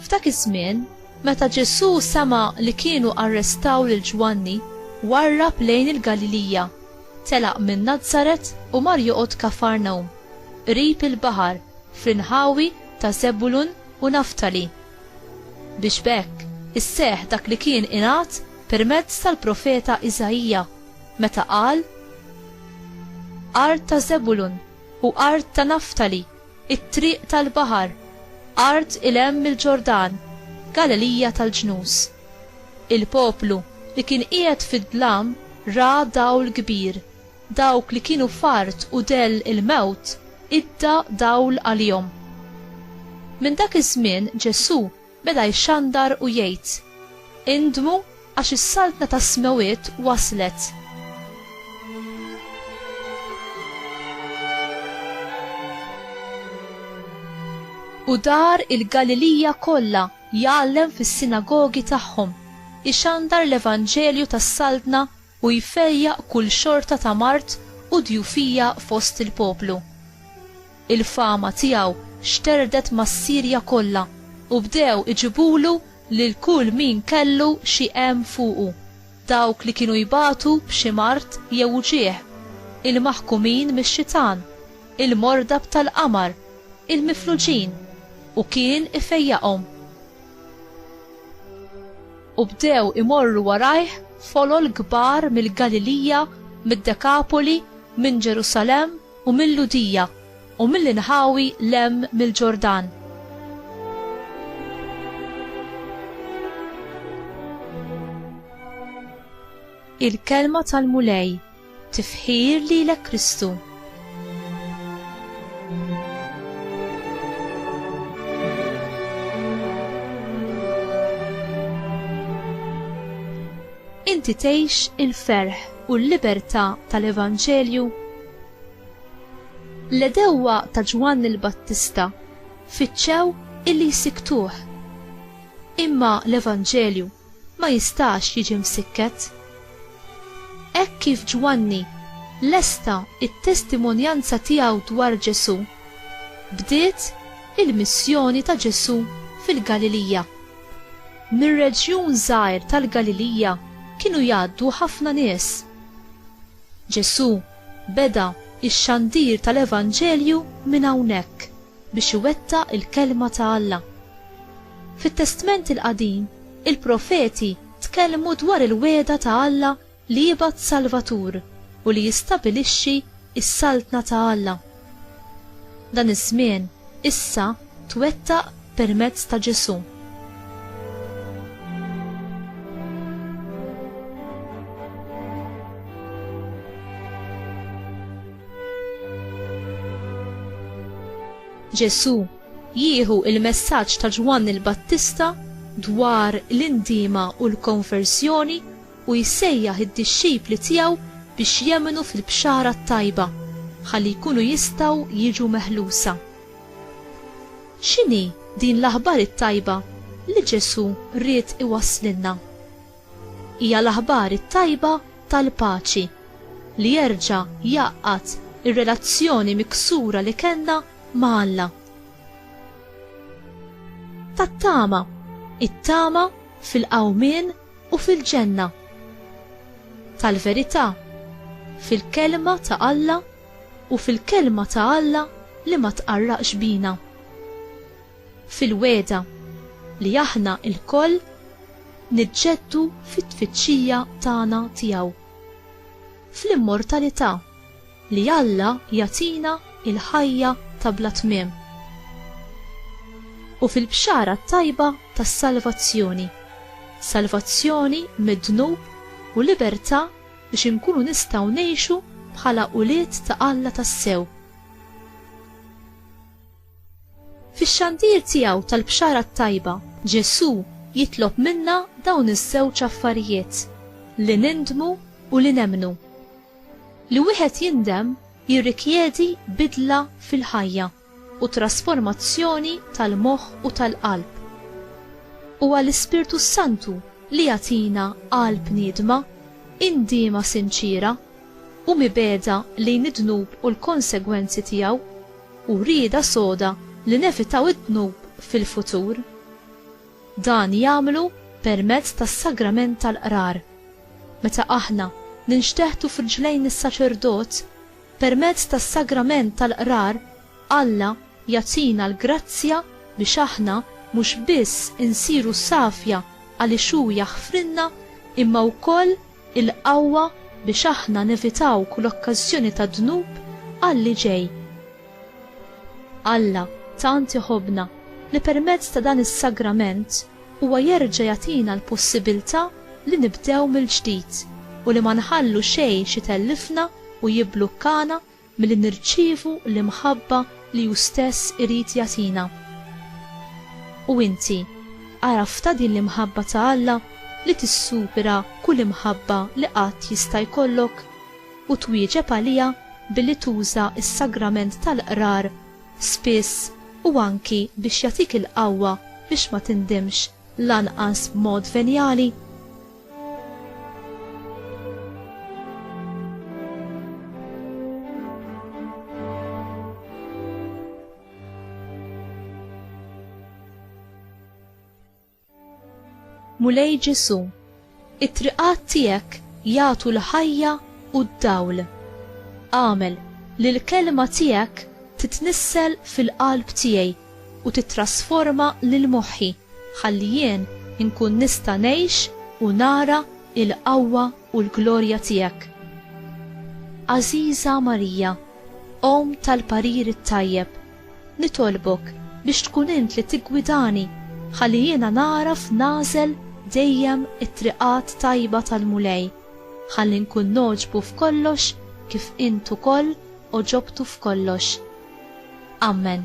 F'dak iż-żmien, meta Ġesù sema li kienu arrestaw lil Ġwanni, warrab lejn il-Galilija, telaq minn Nazaret u mar joqgħod Kafarnaum, qrib il-baħar, fl-inħawi ta' Żebulun u Naftali. Biex b'hekk isseħħ dak li kien ingħad permezz tal-profeta Iżaija, meta qal, Art ta' Żebulun u art ta' Naftali, it-triq tal-baħar, art 'il hemm mill-Ġordan, Galilija tal-ġnus. Il-poplu li kien qiegħed fid-dlam ra dawl kbir, Dawk li kienu f'art u dell il-mewt idda dawl għalihom. Minn dak iż-żmien Ġesù beda jxandar u jgħid, Indmu għax is-Saltna tas-smewwiet waslet. U dar il-Galilija kollha jgħallem fis-sinagogi tagħhom, ixandar l-evanġelju tas-Saltna u jfejjaq kull xorta ta' mard u djufija fost il-poplu. Il-fama tiegħu xterdet mas-Sirja kollha u bdew iġibulu lil kull min kellu xi għemm fuqu, dawk li kienu jbatu b'xi mard jew uġigħ, il-maħkumin mix-xitan, il-morda b'tal-qamar, il-mifluġin, u kien ifejjaqhom. U bdew imorru warajh folol kbar mill-Galilija, mid-Dekapoli, minn Ġerusalemm u mill-Lhudija, u mill-inħawi 'l hemm mill-Ġordan. Il-Kelma tal-Mulej. Tifħir lilek Kristu. Inti tgħix il-ferħ u l-libertà tal-Evanġelju? L-edewwa ta' Ġwann il-Battista fiċċew illi jsiktuh. Imma l-Evanġelju ma jistax jiġi msikket. Hekk kif Ġwanni lesta t-testimonjanza tiegħu dwar Ġesù, bdiet il-missjoni ta' Ġesù fil-Galilija. Mir-reġjun żgħir tal-Galilija kienu jgħaddu ħafna nies. Ġesù beda x-xandir tal-evanġelju minn hawnhekk. biex iwettaq il-Kelma ta' Alla. Fit-Testment il-Qadim, il-profeti tkellmu dwar il-wegħda ta' Alla li jibgħat Salvatur u li jistabilixxi s-Saltna ta' Alla. Dan iż-żmien issa twettaq permezz ta' Ġesù. Ġesù jieħu il-messaġġ ta' Ġwann il-Battista dwar l-indiema u l-konversjoni u jsejjaħ id-dixxipli tiegħu biex jemmnu fil-Bxara t-Tajba ħalli jkunu jistgħu jiġu meħlusa. X'inhi din l-aħbar it-tajba li Ġesù ried iwasslilna? Hija l-aħbar it-tajba tal-paċi li jerġa' jgħaqqad ir-relazzjoni miksura li kellna ma' Alla. Tat-tama, it-tama fil-qawmien u fil-ġenna. Tal-verità, fil-Kelma ta' Alla u fil-Kelma ta' Alla li ma tqarraqx bina. fil-wegħda li aħna lkoll niġġeddu fit-tfittxija tagħna tiegħu, fl-immortalità li Alla jagħtina l-ħajja ta' bla tmiem, u fil-bxara t-tajba tas-salvazzjoni, salvazzjoni mid-dnub u libertà biex inkunu nistgħu ngħixu bħala ulied ta' Alla tassew. Fix-xandir tiegħu tal-Bxara t-Tajba, Ġesù jitlob minna dawn iż-żewġ affarijiet, li nindmu u li nemmnu. Li wieħed jindem jirrikjedi bidla fil-ħajja u trasformazzjoni tal-moħħ u tal-qalb. Huwa l-Ispirtu s-Santu li jagħtina qalb niedma, indiema sinċiera, u mibegħda lejn id-dnub u l-konsegwenzi tiegħu, u rieda soda li nevitaw id-dnub fil-futur. Dan jagħmlu permezz tas-sagrament tal-Qrar. Meta aħna ninxteħtu f'riġlejn is-saċerdot, permezz tas-sagrament tal-Qrar Alla jagħtina l-grazzja biex aħna mhux biss insiru safja għaliex hu jaħfrilna imma wkoll il-qawwa biex aħna nevitaw kull okkażjoni ta' dnub għalli ġej. Alla tant iħobbna li permezz ta' dan is-sagrament huwa jerġa' jagħtina l-possibilità li nibdew mill-ġdid u li ma nħallu xejn x'itellifna u jibblukkana milli nirċievu l-imħabba li hu stess irid jagħtina. U inti għaraftha din l-imħabba ta' Alla li tissupera kull imħabba li qatt jista' jkollok u twieġeb għaliha billi tuża s-sagrament tal-Qrar spiss u anki biex jagħtik il-qawwa biex ma tindimx? lanqas b'mod venjali. Mulej Ġesù, It-triqat tiegħek jagħtu l-ħajja u d-dawl. Agħmel li l-kelma tiegħek titnissel fil-qalb tiegħi u tittrasforma lil moħħi ħalli jien inkun nista' ngħix u nara l-qawwa u l-glorja tiegħek. Għażiża Marija, Omm tal-parir it-tajjeb, Nitolbok biex tkun int li tiggwidani ħalli jiena nagħraf nagħżel dejjem it-triqat tajba tal-Mulej, ħalli nkun nogħġbu f'kollox kif int ukoll għoġobtu f'kollox. Ammen.